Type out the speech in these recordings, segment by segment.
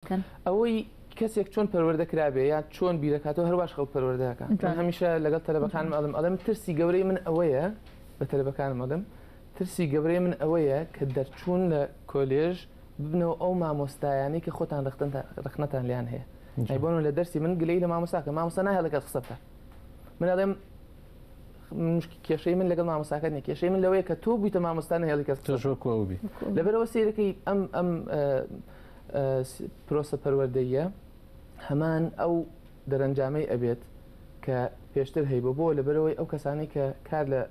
کەن. ئەوەی کەسێک چۆن پەروەردە کرابێ یا چۆن بیرەکاتەوە هەرواش خەڵک پەروەردە ئەکا من هەمیشە لەگەڵ تەلەبەکانم ئەڵێم ئەڵێم ترسی گەورەی من ئەوەیە بە تەلەبەکانم ئەڵێم ترسی گەورەی من ئەوەیە کە دەرچوون لە کۆلێژ ببنەوە ئەو مامۆستایانەی کە خۆتان ڕەختنتان ڕەخنەتان لیان هەیە ئەی جا. بۆنمونە لە دەرسی من گلەیی لە مامۆستا کە مامۆستا نایهڵێ لەگەڵ قسە بکات من ئەڵێم مشک کێشەی من لەگەڵ مامۆستاکەت نییە کێشەی من لەوەیە کە تۆ بوویتە مامۆستا نەهێڵی کەس قسە تۆش وەکو ئەو بی. وەکو ئەو. لەبەرئەوە سەیرەکەی ئەم ئەم پرۆسە پەروەردەییە هەمان ئەو دەرەنجامەی ئەبێت کە پێشتر هەیبە بۆ لەبەرەوەی ئەو کەسانی کە کار لە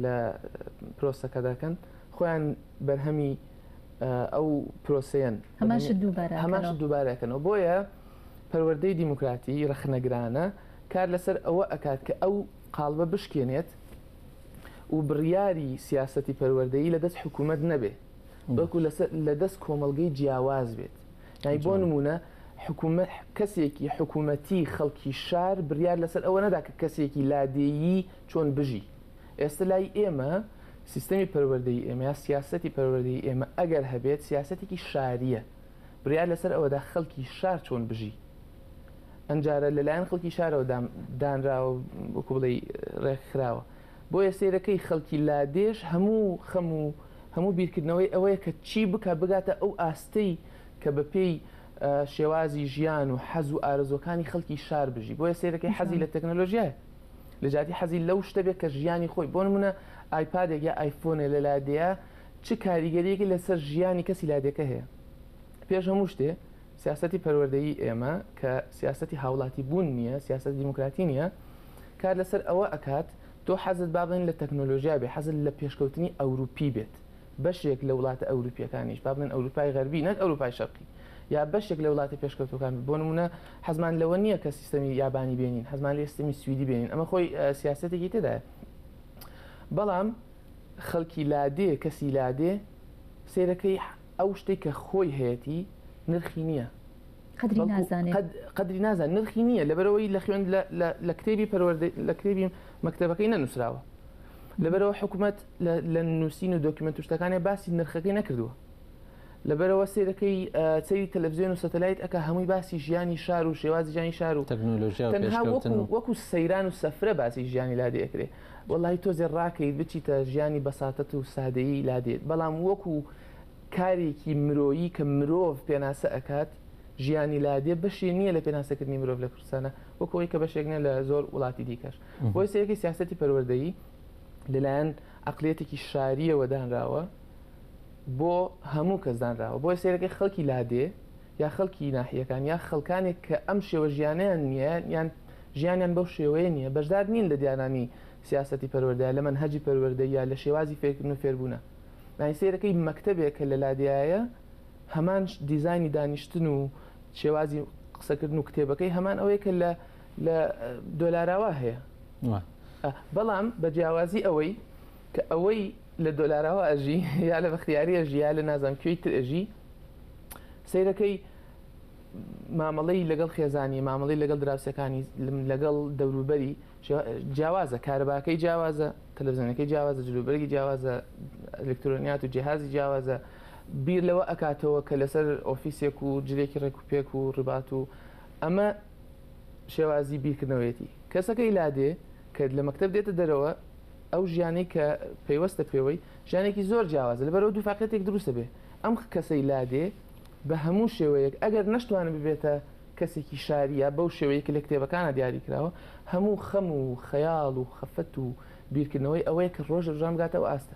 لە پرۆسەکە دەکەن خۆیان بەرهەمی ئەو پرۆسەیەن هەماش دووبارە هەماش دووبارەکەنەوە بۆیە پەروەردەی دیموکراتی ڕخنەگرانە کار لەسەر ئەوە ئەکات کە ئەو قالبە بشکێنێت و بڕیاری سیاستی پەروەردەی لە دەست حکوومەت نەبێ بەڵکو لە دەست کۆمەڵگەی جیاواز بێت یانی بۆ نمونە کەسێکی حکوومەتی خەڵکی شار بریار لەسەر ئەوە نەدا کە کەسێکی لادێیی چۆن بژی ئێستا لای ئێمە سیستەمی پەروەردەی ئێمە یا سیاستی پەروەردەی ئێمە ئەگەر هەبێت سیاستێکی شاریە بریار لەسەر ئەوەدا خەڵکی شار چۆن بژی ئەمجارە لەلایەن خەڵکی شارەوە دانراوە وەکو بڵێ ڕێکخراوە بۆیە سەیرەکەی خەڵکی لادێش هەموو خەم و هەموو بیرکردنەوەی ئەوەیە کە چی بکات بگاتە ئەو ئاستەی کە بە پێی شێوازی ژیان و حەز و ئارەزووەکانی خەڵکی شار بژی بۆیە سەیرەکەی حەزی لە تەکنەلۆژیایە لە جیاتی حەزی لەو شتە بێت کە ژیانی خۆی بۆ نموونە ئایپادێک یا ئایفۆنێ لە لادێیە چ کاریگەریەکی لەسەر ژیانی کەسی لادێکە هەیە پێش هەموو شتێ سیاسەتی پەروەردەیی ئێمە کە سیاسەتی هاوڵاتی بوون نیە، سیاسەتی دیموکراتی نیە، کار لەسەر ئەوە ئەکات تۆ حەزت با بڵێین لە تەکنۆلۆژیا بێت، حەزت لە پێشکەوتنی ئەوروپی بێت، بەشێک لە وڵاتە ئەوروپیەکانیش با بڵێن ئەوروپای غەربی نەک ئەوروپای شەرقی یا بەشێک لە وڵاتە پێشکەوتوەکان بێت، بۆ نمونە حەزمان لەوە نیە کە سیستەمی یابانی بێنین، حەزمان لێیە سیستەمی سویدی بێنین، ئەمە خۆی سیاسەتێکی تێدایە، بەڵام خەڵکی لادێ کەسی لادێ سەیرەکەی. ئەو شتەی کە خۆی هەیەتی نرخی نییە قەدری بەڵکو نازانێ قەد قەدری نازان نرخی نییە لەبەرەوەی لە خوێند لە لە لە کتێبی پەروەردەی لە کتێبی مەکتەبەکەی نەنووسراوە لەبەرەوە حکومەت لە لە نووسین و دۆکیومێنت و شتەکانێ باسی نرخەکەی نەکردووە لەبەرەوە سەیرەکەی ئا سەیری تەلەفزیۆن و سەتەلایت ئەکا هەمووی باسی ژیانی شار و شێوازی ژیانی شار و تەکنۆلۆژیا و تەنها پێشکەوتن وەکوو و وەکوو سەیران و سەفرە باسی ژیانی لا دێکرێ وەڵاهی تۆزێ ڕاکەیت بچیتە ژیانی بەساتەت و سادەیی لادێت بەڵام وەکو کارێکی مرۆیی کە مرۆڤ پێناسە ئەکات ژیانی لادێ بەشی نییە لە پێناسەکردنی مرۆڤ لە کوردستانا وەکو ئەوی کە بەشێک نیە لە زۆر وڵاتی دیکەش بۆی سەیەکەی سیاسەتی پەروەردەیی لەلایەن عقلیەتێکی شاریەوە دانراوە بۆ هەموو کەس دانراوە بۆی سەیرەکەی خەڵکی لادێ یا خەڵکی ناحیەکان یا خەڵکانێک کە ئەم شێوە ژیانیان نییە یان ژیانیان بەو شێوەیە نییە، بەشدار نین لە دانانی سیاسەتی پەروەردە، لە مەنهەجی پەروەردە یا لە شێوازی فێرکردن و فێربوونە. یانی سەیرەکەی مەکتەبێک کە لە لادێیایە هەمان دیزاینی دانیشتن و شێوازی قسەکردن و کتێبەکەی هەمان ئەوەیە کە لە لە دۆلاراوا هەیە. بەڵام بە جیاوازی ئەوەی کە ئەوەی لە دۆلاراوا ئەژی یا لە بەختیاری ئەژی یا لە نازانم کوێی تر ئەژی سەیرەکەی مامەڵەی لەگەڵ خێزانی، مامەڵەی لەگەڵ دراوسێکانی، لەگەڵ دەوروبەری جیاوازە، کارەباکەی جیاوازە، تەلەفزیۆنەکەی جیاوازە، جلوبەرگی جیاوازە، ئەلکترۆنیات و جیهازی جیاوازە، بیر لەوە ئەکاتەوە کە لەسەر ئۆفیسێک و جلێکی ڕێکوپێک و ڕبات و ئەمە شێوازی بیرکردنەوەیەتی کەسەکەی لادێ کە لە مەکتب دێتە دەرەوە ئەو ژیانی کە پەیوەستە پێوەی ژیانێکی زۆر جیاوازە لەبەرەوە دوو فاقێتێک دروستە بێ ئەم کەسەی لادێ بە هەموو شێوەیەک ئەگەر نەشتوانێت ببێتە کەسێکی شاری یا بەو شێوەیەی کە لە کتێبەکانا دیاری کراوە، هەموو خەم و خەیاڵ و خەفەت و بیرکردنەوەی ئەوەیە کە ڕۆژ لە ڕۆژان بگاتە ئەو ئاستە.